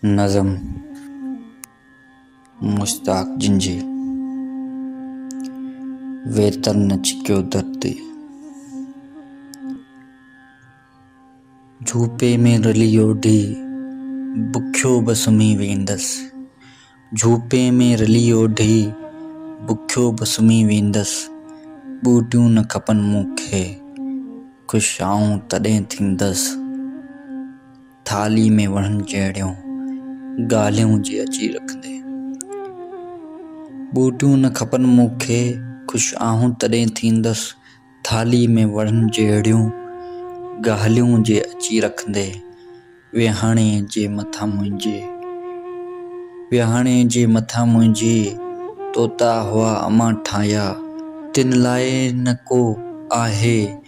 نظم، مشتاق جنجهي، ويتر نه چڪيو در تي، جهوپي ۾ رلي اوڍي، بکيو به سمهي ويندس، جهوپي ۾ رلي اوڍي، بکيو به سمهي ويندس، ٻوٽيون نه کپن مون کي، خوش آئون تڏهن ٿيندس. ٿالهي ۾ وڻن جهڙيون ڳالهيون جي اچي رکندي. ٻوٽيون نه کپن مون کي، خوش آهون تڏهن ٿيندس، ٿالهي ۾ وڻن جهڙيون ڳالهيون جي اچي رکندي. ويهاڻي جي مٿان منهنجي، ويهاڻي جي مٿان منهنجي، طوطا هئا امان ٺاهيا، تن لاء نه ڪو آهي.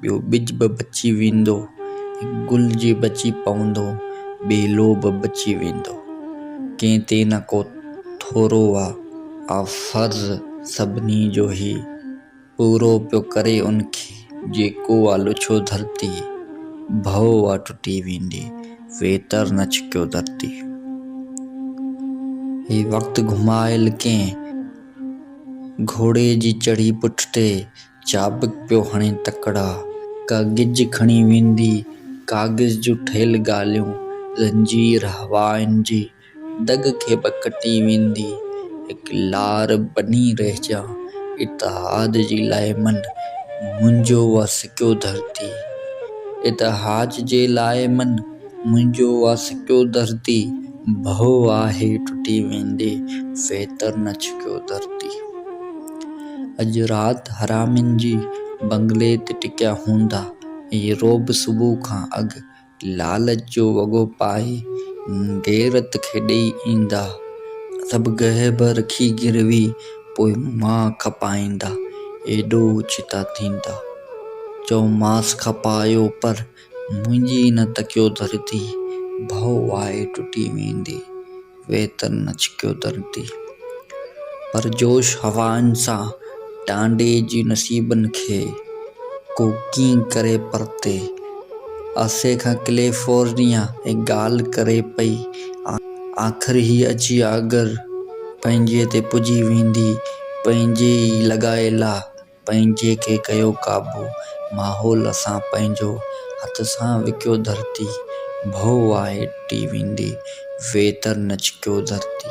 ٻيو ٻج به بچي ويندو. هڪ گل جي بچي پوندو. ٻئي لو به بچي ويندو. ڪنهن تي نه ڪو ٿورو آ. آء فرض سڀني جو هي پورو پيو ڪري ان کي. جيڪو آ لڇيو ڌرتي. ڀؤ آ ٽٽي ويندي. ويتر نه ڇڪيو ڌرتي. هي وقت گهمايل ڪنهن. گهوڙي جي چڙهي پٺ تي. چابڪ پيو هڻي تڪڙا، ڪا گج کڻي ويندي، ڪاغذ جون ٺهيل ڳالهيون، زنجير هوائن جي دڳ کي به ڪٽي ويندي، هڪ لار بني رهجان، اتحاد جي لاء من، منهنجو وا سڪيو ڌرتي. اتحاج جي لاء من، منهنجو وا سڪيو ڌرتي، ڀؤ آهي ٽٽي ويندي، فيتر نه ڇڪيو ڌرتي. اڄ رات حرامين جي بنگلي تي ٽڪيا هوندا. هي رعب صبح کان اڳ لالچ جو وڳو پائي غيرت کي ڏئي ايندا. سڀ گهه به رکي گروي پوء مان کپائيندا. ايڏو اوچتا ٿيندا. چئومانس کپايو پر منهنجي نه تڪيو ڌرتي، ڀؤ آهي ٽٽي ويندي، ويتر نه ڇڪيو ڌرتي. پرجوش هوائن سان ٽانڊي جي نصيبن کي، ڪو ڪيئن ڪري پرتي. آسي کان ڪليفورنيا ۾ ڳالهه ڪري پئي، آخر هي اچي آڳر، پنهنجي تي پڄي ويندي، پنهنجي ئي لڳائي لا. پنهنجي کي ڪيو قابو، ماحول سان پنهنجو، هٿ سان وڪيو ڌرتي، ڀؤ آهي ٽي ويندي، ويتر نه ڇڪيو ڌرتي.